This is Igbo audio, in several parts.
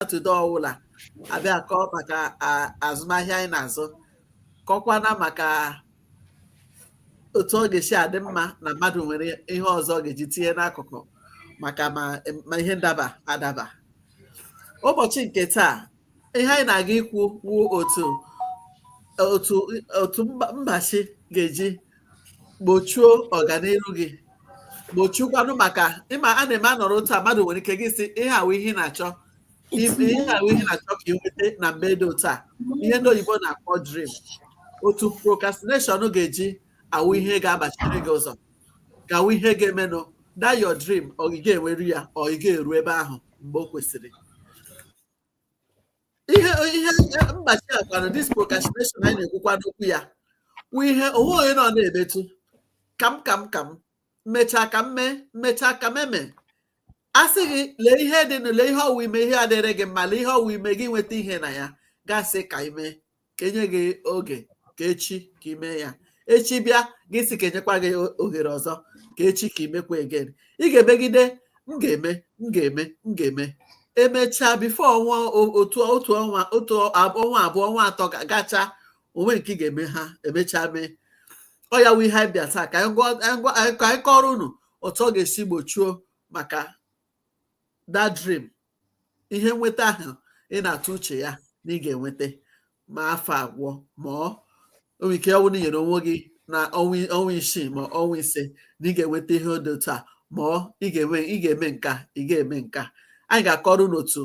satọde ọwụla abịa kọọ maka azụmahịa anyị na-azụ kọkwana maka otu ọ ga-esi adị mma na mmadụ nwere ihe ọzọ ọ ga-eji tinye n'akụkụ maka ma ihe ndaba adaba ụbọchị nke taa ihe anyị na-aga ikwu wụ otu otu otu mgbachi ga-eji gbochuo ọganihu gị gbochukwanụ maka ị ma a na-eme a nọrọ otu a mmadụ nwere ike gị sị ihe a wụ ihe ị na-achọ ihe a wụ ihe ị na-achọ ka ị nweta na mgbe dị otu a ihe ndị oyibo na-akpọ dream otu procrastination ga-eji awụ ihe ga-agbachiri gị ụzọ ga-awụ ihe ga-emenụ that your dream ọ ị ga-enweru ya ọ ị ga-eru ebe ahụ mgbe o kwesịrị ihe ihe mgbachi a kwanụ this procrastination anyị na-ekwukwanụ okwu ya wụ ihe onwe onye nọ na-emetụ ka m ka m ka m mechaa ka m mee mechaa ka m eme a sị gị lee ihe dịnụ lee ihe ọ wụ i mee ihe adịrị gị mma lee ihe ọ wụ i mee gị nweta ihe na ya gị asị ka i mee ka e nye gị oge ka echi ka i mee ya echi bịa gị sị ka e nyekwa gị ohere ọzọ ka echi ka i mekwa again ị ga-emegide m ga-eme m ga-eme m ga-eme emechaa before ọnwa otu otu ọnwa otu ọnwa abụọ ọnwa atọ gacha o nwe nke ị ga-eme ha emechaa mee ọ ya wụ ihe anyị bịa taa ka anyị kọrọ unu otu ọ ga-esi gbochuo maka that dream ihe nweta ahụ ị na-atụ uche ya na ị ga-enweta ma afọ agwụ ma ọ nwere ike ọ wụ na i nyere onwe gị na ọnwa isii ma ọnwa ise na ị ga-enweta ihe dị otu a ma ọ ị ga-eme ị ga-eme nka ị ga-eme nka anyị ga-akọrọ unu otu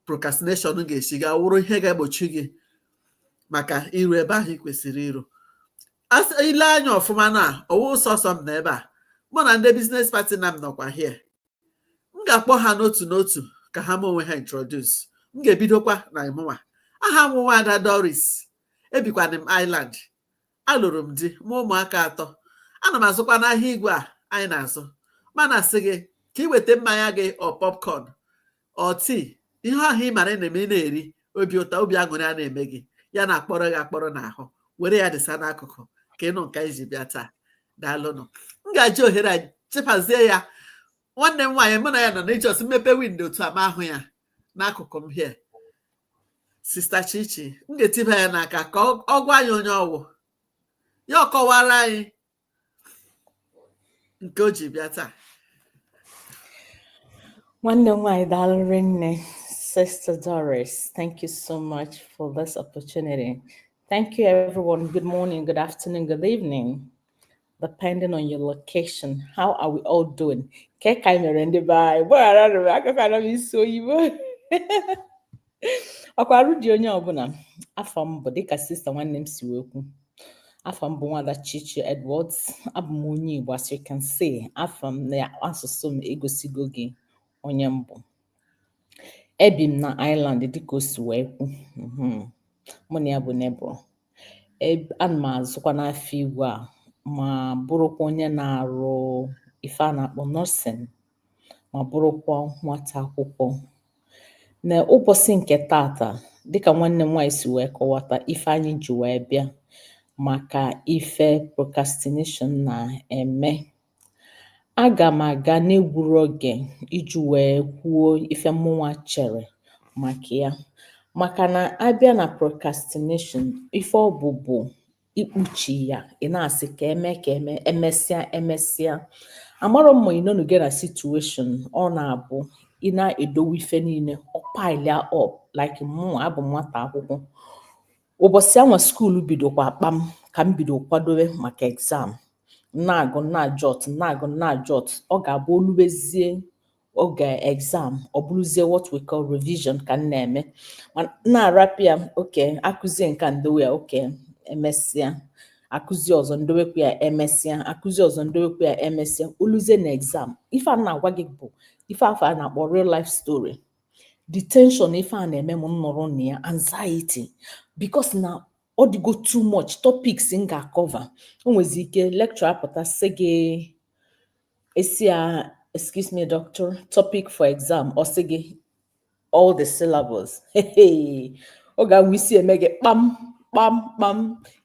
procrastination ga-esi ga-awụrụ ihe ga-egbochi gị maka iru ebe ahụ ị kwesịrị iru i lee anya ọfụma na ọ wụ sọsọ m nọ ebe a mụ na ndị business partner m nọkwa here m ga-akpọ ha n'otu n'otu ka ha mee onwe ha introduce m ga-ebidokwa na mụnwa aha m wụ nwa ada Doris ebikwana m Ireland alụrụ m di mụọ ụmụaka atọ ana m azụkwana ahịa igwe a anyị na-azụ m na-asị gị ka ị weta mmanya gị or popcorn or tea ihe ahụ ị mara na-eme ị na-eri obi ụtọ obi aṅụrị a na-eme gị ya na-akpọrọ gị akpọrọ n'ahụ were ya dịsa n'akụkụ ka ị nụ nke anyị ji bịa taa daalụnụ m ga-eji ohere a chepazie ya nwanne m nwaanyị mụ na ya nọ na i just mepe window otu a m ahụ ya n'akụkụ m here sister Chichi m ga-etiba ya n'aka ka ọ gwa anyị onye ọ wụ ya ọ kọwara anyị nke o ji bịa taa nwanne m nwaanyị daalụ rinne Sister Doris, thank you so much for this opportunity. Thank you, everyone. Good morning, good afternoon, good evening, depending on your location. How are we all doing? Ke ka anyị mere ndị be anyị? Gbaghara m, akụkọ anọ m isi oyibo. ọkwa arụ dị onye ọbụla afa m bụ dịka sister nwanne m si wee kwu afa m bụ nwada Chichi Edwards abụ m onye Igbo as you can see afa m na asụsụ m egosigo gị onye m bụ ebi m na Ireland dịka o si wee kwu mhm. mụ na ya bụ neighbour ana m azụkwa n'afọ igwe a ma bụrụkwa onye na-arụ ife a na-akpọ nursing ma bụrụkwa nwata akwụkwọ na ụbọchị nke tata dịka nwanne m nwaanyị si wee kọwata ife anyị ji wee bịa maka ife procrastination na-eme aga m aga n'egburo oge iji wee kwuo ife mụnwa chere maka ya maka na a bịa na procrastination ife ọ bụ bụ ikpuchi ya ị na-asị ka eme ka eme emesịa emesịa amarọ m ma ị nọnugo na situation ọ na-abụ ị na-edowe ife niile ọ pile-ịa up like mụnwa bụ nwata akwụkwọ ụbọchị anwa school bidokwa akpa m ka m bido kwadowe maka exam na-agụ na-ajot na-agụ na-ajot ọ ga-abụ o lubezie oge exam ọ bụrụzie what we call revision ka m na-eme ma na-arapụ ya okay a kụzie nka m dowe ya okay emesịa a kụzie ọzọ m dowekwu ya emesịa a kụzie ọzọ m dowekwu ya emesịa o luzie na exam ife a na-agwa gị bụ ife afụ a na-akpọ real life story the tension ife a na-eme m nọrọ na ya anxiety because na ọ dịgo too much topics m ga-acover o nwezi ike lecturer apụta sị gị ị sị ya excuse me doctor topic for exam ọ sị gị all the syllabus oge anwa isi eme gị kpam kpam kpam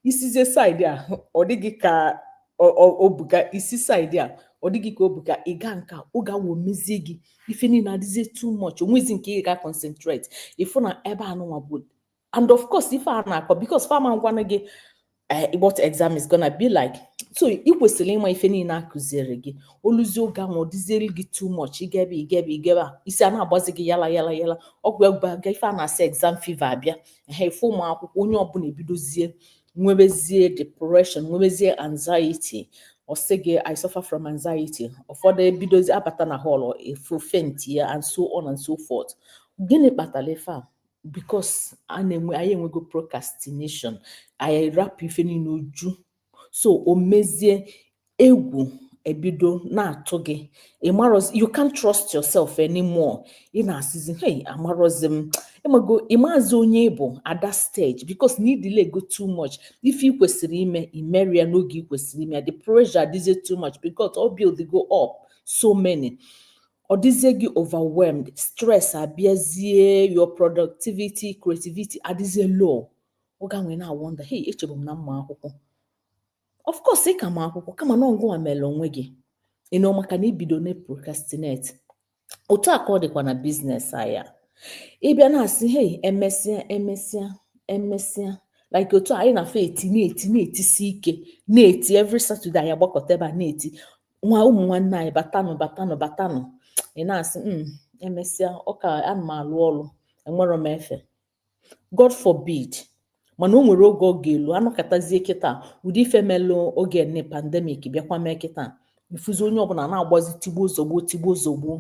i sizie side a ọ dị gị ka o buka i si side a ọ dị gị ka o buka ị ga nka ọ ga-awụ mezie gị ife niile adịzie too much o nwezi nke ị ga concentrate ị fụ na ebe anụnwa bụ and of course ife a na-akọ because fa ama agwanụ gị eh, what exam is gonna be like so ị kwesịrị ịma ife niile a kụziere gị o luzie oge ahụ ọ dịziere gị too much ị gụbe ị gụbe ị gụbe isi a na-agbazi gị yala yala yala ọgwụ egwu aga ife a na-asị exam fever abịa ha ife ụmụ akwụkwọ onye ọbụla ebidozie nwebezie depression nwebezie anxiety ọ sị gị i suffer from anxiety ụfọdụ ebidozi abata na hall efu faint-ịa and so on and so forth gịnị kpatara ife a because na anyị enwego procrastination anyị rapụ ife niile o ju so o mezie egwu ebido na-atụ gị ịmarọzi you can't trust yourself anymore ị na-asịzi hey amarọzi m ịmago ịmazi onye ị bụ at that stage because na i delay go too much ife ị kwesịrị ime imerọ ya n'oge ị kwesịrị ime ya the pressure adịzie too much because ọ build go up so many ọ dịzie gị overwhelmed stress abịazie your productivity creativity adịzie low oge ahụ ị na-awonder hey echebu m na m ma akwụkwọ of course ị ka ma akwụkwọ kama na ọ gịnwa melu onwe gị you know maka na ibido na procrastinate otu a ka ọ dịkwa na business anyị ịbịa na-asị hey emesịa emesịa emesịa like otu anyị na-afọ eti na-eti na-etisi ike na-eti every Saturday anyị agbakọta ebe a na-eti nwa ụmụ nwanne anyị batanụ batanụ batanụ ị na-asị hmm, emesịa ọkwa ana m alụ ọlụ enwerọ m efe god forbid mana o nwere oge ọ ga-elu anọkatazie kịta ụdị ife melụ oge nne pandemic bịakwa mee kịta ifuzi onye ọbụla na-agbazi tigbuo zọgbuo tigbuo zọgbuo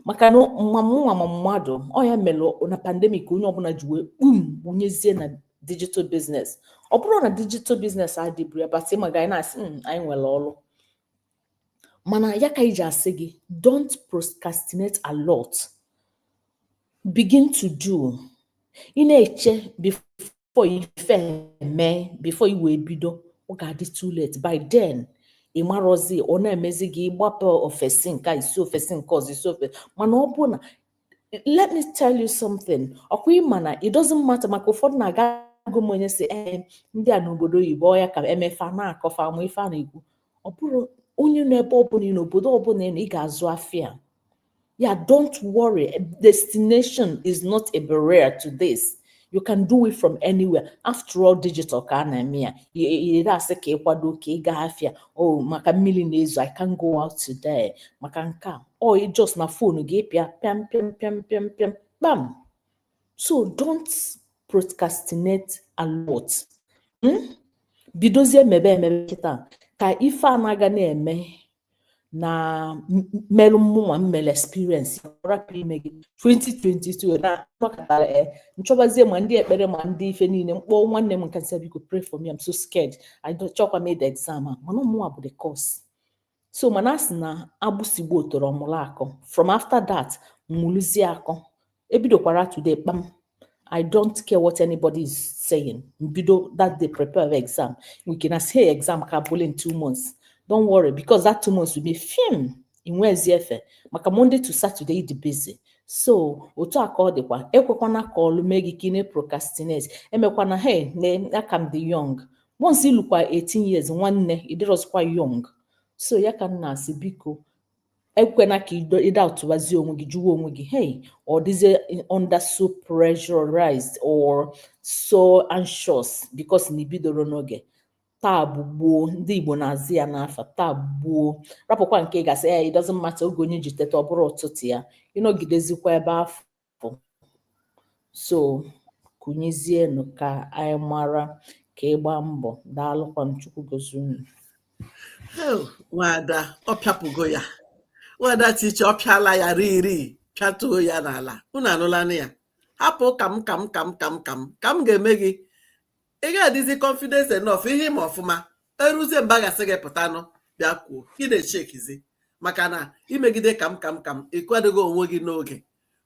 maka na ma mụnwa ma mmadụ ọ ya melụ na pandemic onye ọbụla ji wee kpum wụnyezie na digital business ọ bụrụ na digital business adịburu ya bata ịma ga na-asị "Mm, anyị nwere ọrụ mana ya ka iji asị gị don't procrastinate a lot begin to do ị na-eche before ife mee before i wee bido ọ ga-adị too late by then ị marọzi ọ na-emezi gị ịgbapụ ofesi nke a, isi ofesi nke ọzọ isi ofesi mana ọ bụ na let me tell you something ọkwa ịma na it doesn't matter maka ụfọdụ na-aga agụ m onye sị ee eh, ndị a nọ obodo oyibo ọ ya ka emefa na-akọfa ma ife a na-ekwu ọ bụrụ onye nọ ebe ọbụla ị nọ obodo ọbụla ị ga-azụ afịa ya don't worry destination is not a barrier to this you can do it from anywhere after all digital ka a na-eme ya adịrọ asị ka ịkwado ka ị gaa afịa o oh, maka mmiri na-ezo i can't go out today maka nke a ọ oh, just na phone gị pịa pịam pịam pịam pịam pịam kpam so don't procrastinate a lot hmm? bidozie mebe mebe kịta ka ife a na-aga na-eme na merụ mmụnwa mmere experience rapụ ime gị 2022 na nọkatara e eh, nchọbazie ma ndị ekpere ma ndị ife niile mkpọ nwanne m nke a nsị biko pray for me I'm so scared I don't chọkwa m ide exam a mana ọ mụnwa bụ the cause so mana a sị na agbụsị gbaa otoro ọ mụrụ akọ from after that m mụrụzie akọ ebidokwara today kpam I don't care what anybody is saying. M bido that day prepare exam. We can say exam ka bụle in two months. Don't worry because that two months will be fịam i nwezi efe maka Monday to Saturday dị busy. So otu a ka ọ dịkwa ekwekwana ka ọlụ mee gị ka ị na-procrastinate emekwana hey na a ka m dị young once i lukwa 18 years nwanne ịdịrọzikwa young so ya ka m na-asị biko ekwena ka ịda ụtụwazi onwe gị jụwa onwe gị hey ọ dịzie under so pressurized or so anxious because na i bidorọ n'oge taa bụ gboo ndị igbo na-aza ya n'afa taa bụ gboo rapụkwa nke a ga-asị ya eh, it doesn't matter oge onye ji teta ọ bụrụ ụtụtụ ya ịnọgidezikwa ebe afụ pụ so kunizienụ ka anyị mara ka ịgba mbọ daalụkwanụ chukwu gozie unu nwada ọ pịapụgo ya nwada tiche ọ pịala ya riri pịatuo ya n'ala unu anụlanụ ya hapụ ka m ka m ka m ka m ka m ka m ga-eme gị ị ga-adịzi confidence enough ihe ị ma ọfụma eruzie mbe a ga-asị gị pụtanụ bịa kwuo ị na-eshekezi maka na i megide ka m ka m ka m ị kwadoghị onwe gị n'oge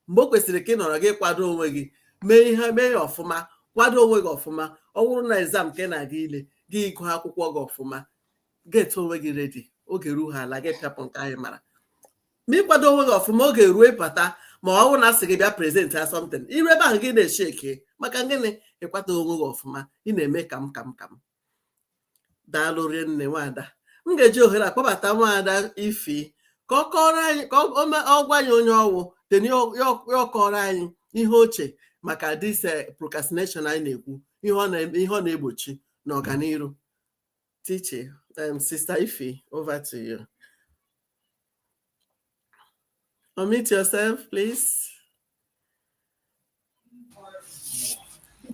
mgbe o kwesịrị ka ị nọrọ gị kwado onwe gị mee ihe mee ya ọfụma kwado onwe gị ọfụma ọ bụrụ na exam ka ị na-aga ile gị ị gụọ akwụkwọ gị ọfụma get onwe gị ready oge ruo ha ala gị pịapụ nke anyị mara ma ịkwado onwe gị ọfụma oge ruo ị bata ma ọ bụrụ na a sị gị bịa presentịa something i ruo ebe ahụ gị na-esheke maka gịnị ịkwado onwe gị ọfụma ị na-eme ka m ka m ka m daalụ rinne nwada m ga-eji ohere a kpọbata nwada Ify ka ọ kọrọ anyị ka ọ gwa anyị onye ọ wụ then ya akọọrọ anyị ihe o che maka this eh, procrastination anyị na-ekwu ihe ọ na-egbochi n'ọganiru tiche um, sister Ify over to you unmute yourself please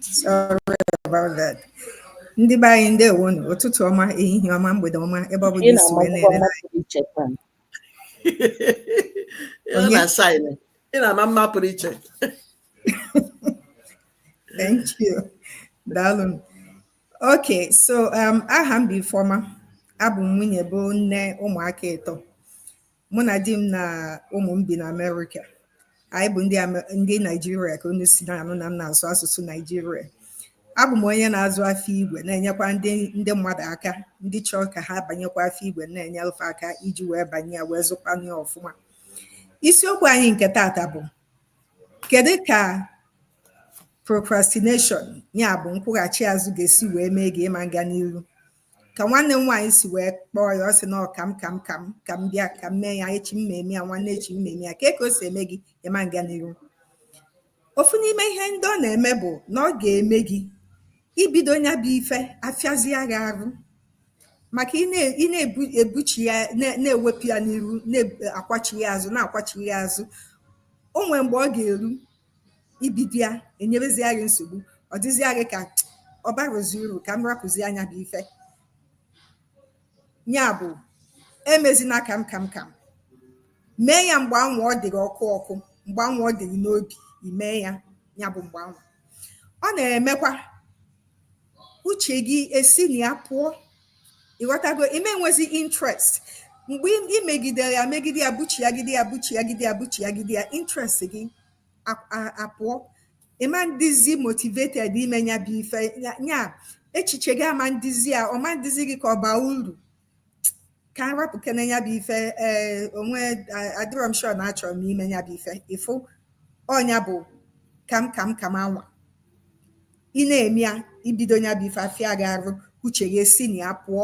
Sorry about that. Ndị be anyị ndewonụ, ụtụtụ ọma, ehihie ọma, mgbede ọma, ebe ọ bụla i si wee na-ele anyị anya mma mma pụrụ iche thank you daalụ okay so um, aha m bụ Ifeoma abụ m nwunye bụ nne ụmụaka ịtọ mụ na di m na ụmụ m bi na amerịka anyị bụ ndị Amer- ndị naijiria ka unu si na-anụ na m na-asụ asụsụ naijiria abụ m onye na-azụ afịa igwe na-enyekwa ndị ndị mmadụ aka ndị chọrọ ka ha banyekwa afịa igwe na-enye fa aka iji wee banye ya wee zụkwanụ ya ọfụma isiokwu anyị nke tata bụ kedu ka procrastination ya bụ nkwụghachi azụ ga-esi wee mee gị ị ma na-aga n'iru ka nwanne m nwaanyị si wee kpọọ ya ọ sị na ọ ka m ka m ka m ka m bịa ka m mee ya echi m ma eme ya nwanne echi m ma eme ya kee ka o si eme gị ịma nga n'iru ofu n'ime ihe ndị ọ na-eme bụ na ọ ga-eme gị ibido nya bụ ife afịazịa gị arụ maka ị na-ebuchi ya na-ewepụ ya n'iru na-akwachi ya azụ na-akwachi ya azụ o nwere mgbe ọ ga-eru ibido ya enyebezia gị nsogbu ọ dịzịa gị ka ọ barọzi uru ka m rapụzịa nya bụ ife nya bụ emezina kam kam kam mee ya mgbe anwa ọ dị gị ọkụ ọkụ mgbe anwa ọ dị gị n'obi ime ya ya bụ mgbe anwa ọ na-emekwa uche gị esi na ya pụọ ịghọtago ịma nwezi interest mgbe ị megidere ya megide ya buchiagide ya buchiagide ya buchiagide ya interest gị a- a- apụọ ịma ndịzi motivated ime nya bụ ife ya- ya echiche gị ama ndịzi ya ọ ma ndịzi gị ka ọ baa uru ka m rapụkene nya bụ ife ee o nwe adịrọ m sure na achọrọ m ime nya bụ ife ị fụ ọ nya bụ kam kam kam anwa ị na-eme ya ibido nya bụ ife afịa gị arụ uche gị esi na ya pụọ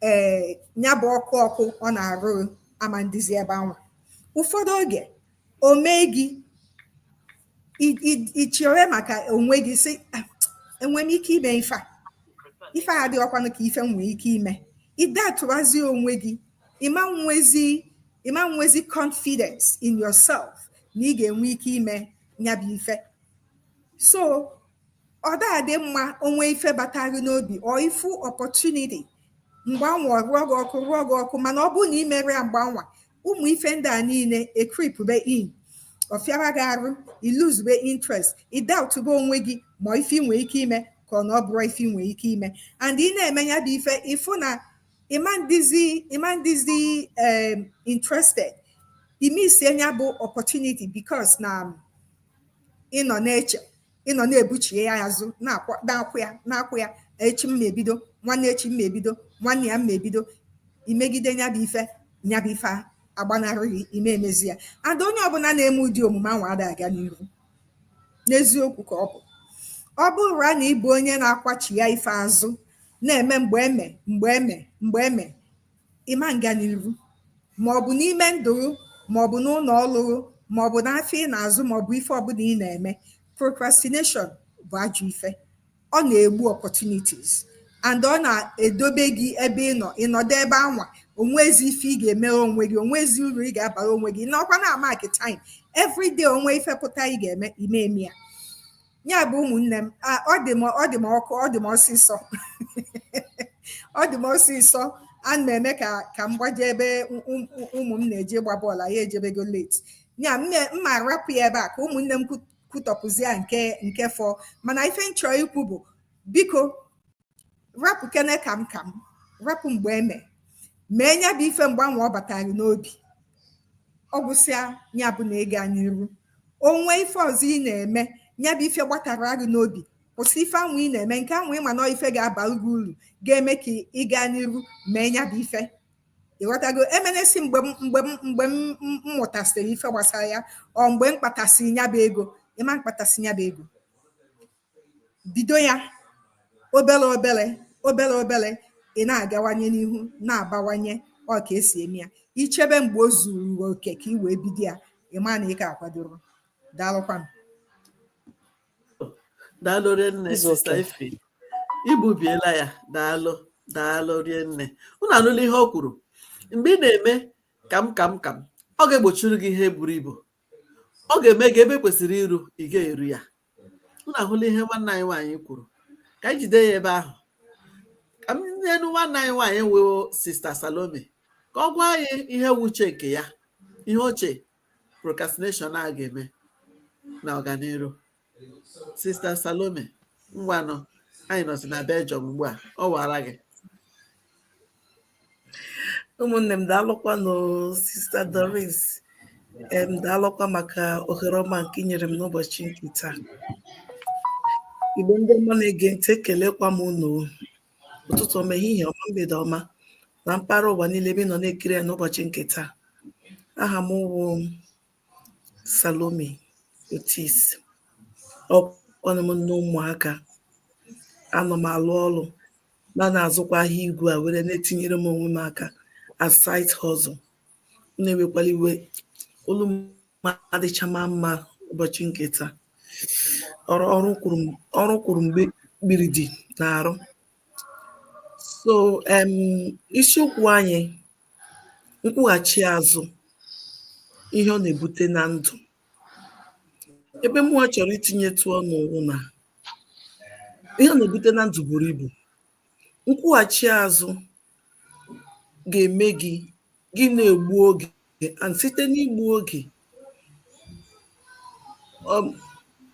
ee nya bụ ọkụ ọkụ ọ na-arụ gị ama ndịzi ebe anwa ụfọdụ oge o mee gị i chewe maka onwe gị sị ah, enwe m ike ime ife a ife a adịghịkwanụ ka ife m nwee ike ime ị doubtụrazi onwe gị ịma nwezi ịma nwezi confidence in yourself na ị ga-enwe ike ime nya bụ ife so ọ dị mma o nwee ife bata gị n'obi or ị fụ opportunity mgbe anwa ọ rụọ gị ọkụ rụọ gị ọkụ mana ọ bụrụ na ị merọ ya mgbe anwa ụmụ ife ndị a niile ecreepbe in ọ fịaba gị arụ i losebe interest ị doubtbe onwe gị ma ife i nwee ike ime ka ọ na ọ bụrọ ife i nwee ike ime and ị na-eme nya bụ ife ị fụ na ịma ndịzi ịma ndịzi um, interested ị missịa nya bụ opportunity because na ị nọ na-eche ị nọ na-ebuchie ya azụ na-akwụ ya na-akwụ ya echi m ma ebido nwanne echi m ma ebido nwanne ya m ma ebido i megide nya bụ ife nya bụ ife agbanarị gị ịma emezi ya and onye ọbụla na-eme ụdị omume anwa ada aga n'iru n'eziokwu ka ọ bụ ọ bụrụ na ị bụ onye na-akwachịa ife azụ na-eme mgbe eme mgbe eme mgbe eme ịma nga n'iru maọbụ n'ime ndụ gị maọbụ n'ụlọ ọlụ gị maọbụ n'afịa ị na-azụ maọbụ ife ọbụla ị na-eme procrastination bụ ajọ ife ọ na-egbu opportunities and ọ na-edobe gị ebe ị nọ ị nọdụ ebe anwa o nwezi ife ị ga-emere onwe gị o nwezi uru ị ga-abara onwe gị ị nọkwa na-amark time everyday o nwee ife pụta ị ga-eme ịma eme ya ya bụ ụmụnne m ọ dị m ọ dị m ọkụ ọ dị m ọsịsọ ọ dị m ọsịsọ ana m eme ka ka m gbaje ebe ụmụ m na-eje ịgba bọọlụ anyị ejebego leti ya m ma-arapụ ya ebe a ka ụmụnne m kwutọpụzie nke nke fọ mana ife m chọọ ikwu bụ biko rapụ kene ka m ka m rapụ mgbe eme mee nya bụ ife mgbe anwụ ọ batara gị n'obi ọ gwụsịa ya bụ na ịga n'iru o nwe ife ọzọ ị na-eme ya bụ ife gbatara gị n'obi kwụsị ife anwụ ị na-eme nke anwụ ị ma na ife ga-abara gị uru ga-eme ka ị gaa n'iru mee ya bụ ife ị ghọtago emena sị mgbe mgbe mgbe m mụtasịrị ife gbasara ya ọ mgbe m kpatasịrị ya bụ ego ị ma mkpatasị ya bụ ego bido ya obere obere obere obere ị na-agawanye n'ihu na-abawanye ọ ka e si eme ya i chebe mgbe o zuru oke ka ị wee bido ya ị ma na ị ka akwadoro daalụkwanụ daalụ rinne sista ife i gbubiela ya daalụ daalụ rinne unu anụla ihe o kwuru mgbe ị na-eme ka m ka m ka m ọ ga-egbochiri gị ihe buru ibu ọ ga-eme gị ebe i kwesịrị iru ị ga-eru ya unu ahụla ihe nwanne anyị nwaanyị kwuru ka anyị jide ya ebe ahụ ka m nyenụ nwanne anyị nwaanyị wụ sista salome ka ọ gwa anyị ihe wụ uche nke ya ihe o che procrastination a ga-eme na ọganiru sista salome ngwanụ anyị nọzi na belgium ugbu a ọ wara gị ụmụnne m daalụkwanụ sista Doris em daalụkwa maka ohere ọma nke i nyere m n'ụbọchị nke taa igbo ndị ọma na-ege ntị ekelekwa m unu ụtụtụ ọma ehihie ọma mgbede ọma na mpaghara ụwa niile ebe ị nọ na-ekiri ya n'ụbọchị nke taa aha m wụ Salome Otis ọkwanụ m nne ụmụaka anọ m alụ ọrụ ma na-azụkwa ahịa igwe a were na-etinyere m onwe m aka as side hustle unu ewekwala iwe olu m adịchama mma ụbọchị nke taa ọrụ ọrụ kwuru m- ọrụ kwuru mgbe kpiri dị na-arụ so em, isiokwu anyị nkwụghachi azụ ihe ọ na-ebute na ndụ ebe mụwa chọrọ itinyetụ ọnụ wụ na ihe ọ na-ebute na ndụ buru ibu nkwụghachi azụ ga-eme gị gị na-egbu oge and site n'igbu oge um,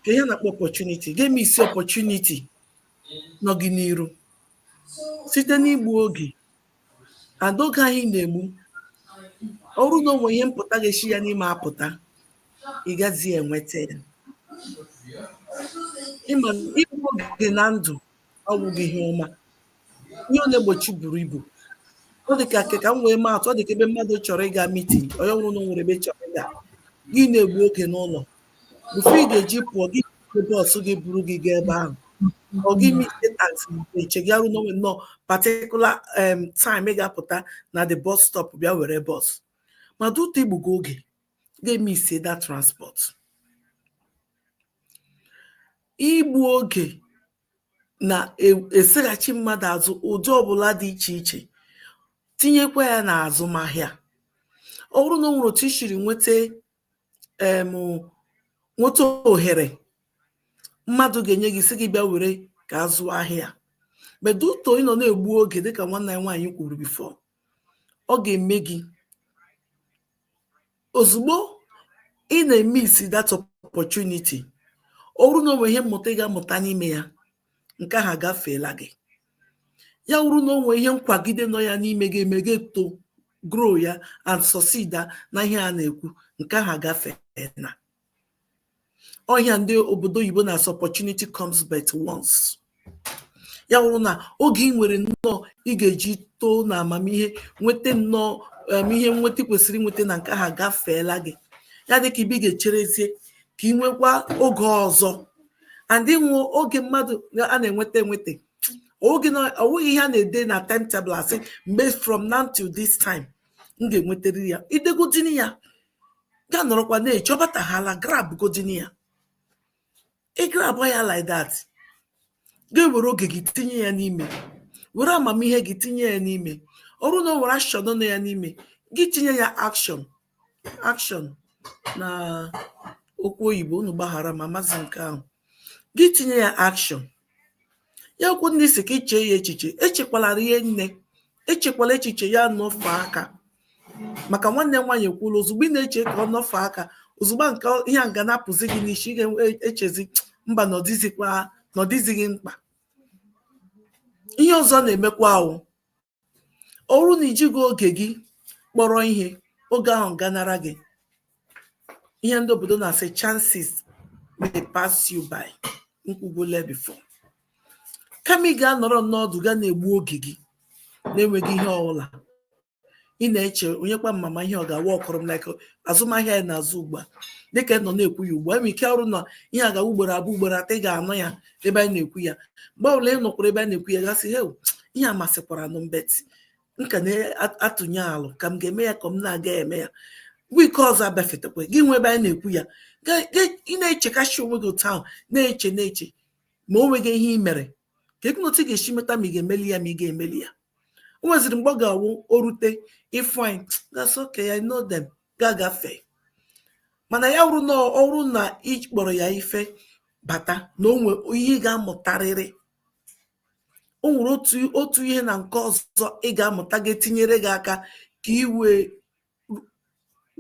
ka ihe a na-akpọ opportunity ị ga-emiss opportunity nọ gị n'iru site n'igbu oge and oge anyị na-egbu ọ wụrụ na o nwe ihe mpụta ga-esi ya n'ime apụta ị gazi enweta ya ị ma na igbu oge na ndụ ọ wụghị ihe ọma ihe ọ na-egbochi buru ibu ọ dị ka ka m wee maa atụ ọ dị ka ebe mmadụ chọrọ ịga mitin onye ọ wụrụ na o nwere ebe chọrọ ịga gị na-egbu oge n'ụlọ before ị ga-eji pụọ gị jide bọs gị buru gị gaa ebe ahụ ọ gị ma ije taxi mgbe eche gị ọ wụrụ na o nwe nnọọ particular em time ị ga-apụta na the bus stop bịa were bọs ma due to i gbugo oge ga-emiss that transport igbu oge na-eseghachi mmadụ azụ ụdị ọbụla dị iche iche tinyekwa ya n'azụmahịa ọ bụrụ na o nwere otu i siri nweta nweta ohere mmadụ ga-enye gị sị gị bịa were ka a zụọ ahịa but due to ị nọ na-egbu oge dịka nwanne anyị nwaanyị kwuru before ọ ga-eme gị ozugbo ị na-emiss that opportunity ọ bụrụ na o nwe ihe mmụta ị ga-amụta n'ime ya nke ahụ agafeela gị ya wụrụ na o nwe ihe nkwagide nọ ya n'ime ga-eme gị to grow ya and succeed na ihe a na-ekwu nke ahụ agafeela ọ ihe a ndị obodo oyibo na-asị opportunity comes but once ya wụrụ na oge ị nwere nnọọ ị ga-eji too na amamihe nweta nnọọ um, ihe nweta i kwesịrị inweta na nke ahụ agafeela gị ya dịka ebe ị ga-echerezie ka ị nwekwa oge ọzọ and ihe wụ oge mmadụ a na-enweta enweta oge na ọ wụghị ihe a na-ede na timetable asị mgbe from now till this time m ga-enwetara ya i degodini ya gị anọrọkwa na-eche ọ batahala grab godini ya ị grab ya like that ga-ewere oge gị tinye ya n'ime were amamihe gị tinye ya n'ime ọ wụrụ na o nwere action nọ ya n'ime gị tinye ya action action na okwu oyibo unu gbaghara m amazi nke ahụ gị tinye ya action ya wụkwanụ ị sị ka i chee ya echiche echekwala rie nne echekwala echiche ya anọfe aka maka nwanne m nwaanyị ekwuola ozugbo ị na-eche ka ọ nọfe aka ozugbo nke ihe a ga na-apụzi gị n'isi ị ga-echezi e, mba na ọ dịzighị mkpa ihe ọzọ na-emekwa wụ ọ bụrụ na i jighị oge gị kpọrọ ihe oge ahụ ganara gị ihe ndị obodo na-asị chances may pass you by m kwugole before kama ị ga-anọrọ n'ọdụ ga na-egbu oge gị na-enweghị ihe ọbụla ị na-eche onye kwa ma ma ihe ọ ga-awa ọkọrọ m like azụmahịa anyị na-azụ ugbu a dịka ị nọ na-ekwu ya ugbu a nwere ike ọ wụrụ na ihe agawa ugboro abụọ ugboro atọ ị ga-anụ ya ebe anyị na-ekwu ya mgbe ọbụla ị nọkwara ebe a na-ekwu ya gị asị he ihe a masịkwara nụ m but nke a na-atụnye alụ ka m ga-eme ya ka m na-aga eme ya week ọzọ abịafetakwa gị nwe ebe anyị na-ekwu ya ị na-echekasị onwe gị otu ahụ na-eche na-eche ma o nweghị ihe ị mere ka ego otu ị ga-esi meta ma ị ga-emeli ya ma ị ga-emeli ya o nweziri mgbe ọ ga-awụ o rute ị fụ anyị gị asị okay I know them gị agafe mana ya wụrụ na ọ wụrụ na ị kpọrọ ya ife bata na o nwe ihe ị ga-amụtarịrị o nwere otu otu ihe na nke ọzọ ị ga-amụta ga-etinyere gị aka ka i wee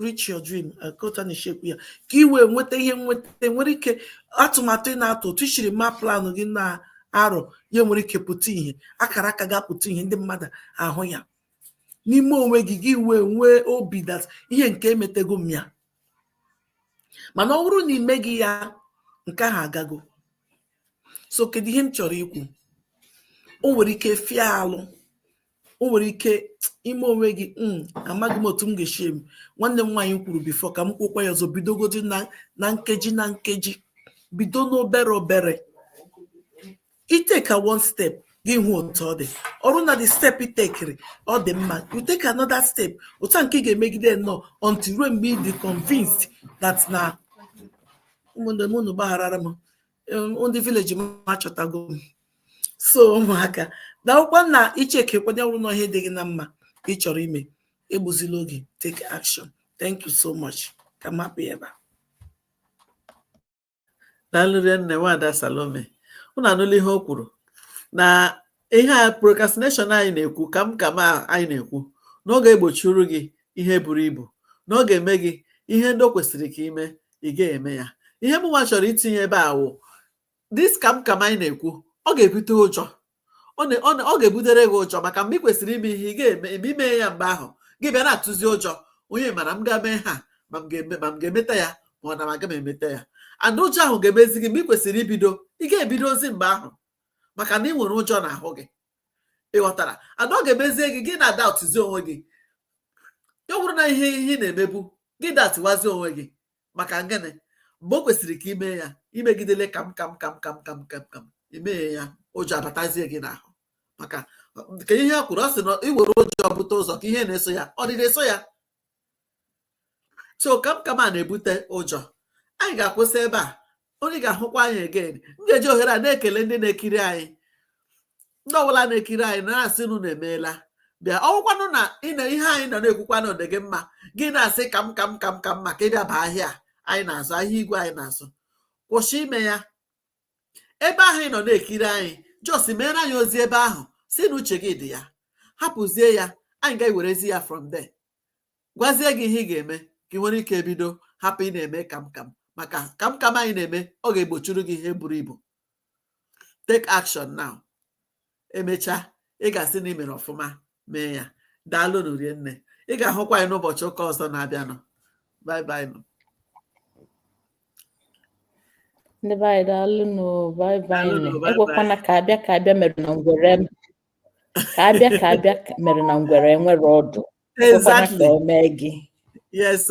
reach your dream ka otu a na-esi ekwu ya ka i wee nweta ihe nweta nwere ike atụmatụ ị na-atụ otu i siri ma planụ gị na-arọ ya nwere ike pụta ihe akara aka ga-apụta ihe ndị mmadụ ahụ ya n'ime onwe gị gị wee nwee obi that ihe nke emetago m ya mana ọ bụrụ na i meghị ya nke ahụ agago so kedu ihe m chọrọ ikwu o nwere ike fịa alụ o nwere ike ime onwe gị hmm, amaghị m otu m ga-esi eme nwanne m nwaanyị kwuru before ka m kwukwa ya ọzọ bidogodi na nkeji na nkeji bido n'obere obere iteka one step gị hụ otu ọ dị ọ wụrụ na the step itekiri ọ dị mma you take another step otu a nke ị ga-emegide nnọọ until ruo mgbe ị dị convinced that na ụmụnne m unu gbagharara m ndị village m achọtago m so mụwa ka na-ekwukwa na icheke kwanye ọ wụrụ na ihe dị gị na mma ị chọrọ ime egbuzila oge take action thank you so much ka m hapụ ebe a daalụ rinne nwaada Salome unu anụla ihe o kwuru na ihe a procrastination anyị na-ekwu ka m ka m anyị na-ekwu na ọ ga-egbochiri gị ihe buru ibu na ọ ga-eme gị ihe ndị o kwesịrị ka i me ị ga-eme ya ihe mụnwa chọrọ itinye ebe a wụ this ka m ka m anyị na-ekwu ọ ga-ebute ụjọ ọ ga-ebutere gị ụjọ maka mgbe ị kwesịrị ime ihe ị ga-eme eme ime ya mgbe ahụ gị bịa na-atụzi ụjọ onye mara m ga-eme ha ma m ga-emeta ya ma ọ na m aga m emeta ya and ụjọ ahụ ga-emezi gị mgbe ị kwesịrị ibido ị ga-ebidozi mgbe ahụ maka na ị nwere ụjọ n'ahụ gị ị ghọtara and ọ ga-emezie gị gị na-adoubtụzi onwe gị ya bụrụ na ihe ị na-emebu gị doubtụwazi onwe gị maka ngịnị mgbe o kwesịrị ka i me ya i megidele kam kam kam kam kam kam kam i meghị ya ụjọ abatazie gị n'ahụ maka ka ihe a kwuru ọ sị na i were ụjọ bute ụzọ ka ihe na-eso ya ọdịda na-eso ya so kam kam a na-ebute ụjọ anyị ga-akwụsị ebe a onye ga-ahụkwa anyị again m ga-eji ohere a na-ekele ndị na-ekiri anyị ndị ọbụla na-ekiri anyị na-asị nụ na-emeela bịa ọ wụkwanụ na ihe anyị nọ na-ekwukwa na ọ dị gị mma gị na-asị ka m ka m ka m ka m maka ịbịa ba ahịa anyị na-azụ ahịa igwe anyị na-azụ kwụsị ime ya ebe ahụ ị nọ na-ekiri anyị just meere anyị ozi ebe ahụ sị na uche gị dị ya hapụzie ya anyị ga-ewerezi ya from there gwazie gị ihe ị ga-eme ka ị nwere ike bido hapụ ịna-eme kamkam maka kamkam anyị na-eme ọ ga-egbochiri gị ihe buru ibu take action now emechaa ị ga-asị na ị mere ọfụma mee ya daalụ nụ rinne ị ga-ahụkwa anyị n'ụbọchị ụka ọzọ na-abịanụ bye bye nụ ndị be anyị daalụ nụ bye bye Daalụ nụ, nụ bye ekwekwana ka abịa ka abịa mere na ngwere ka abịa ka abịa ka- mere na ngwere enwere ọdụ Exactly. Yes.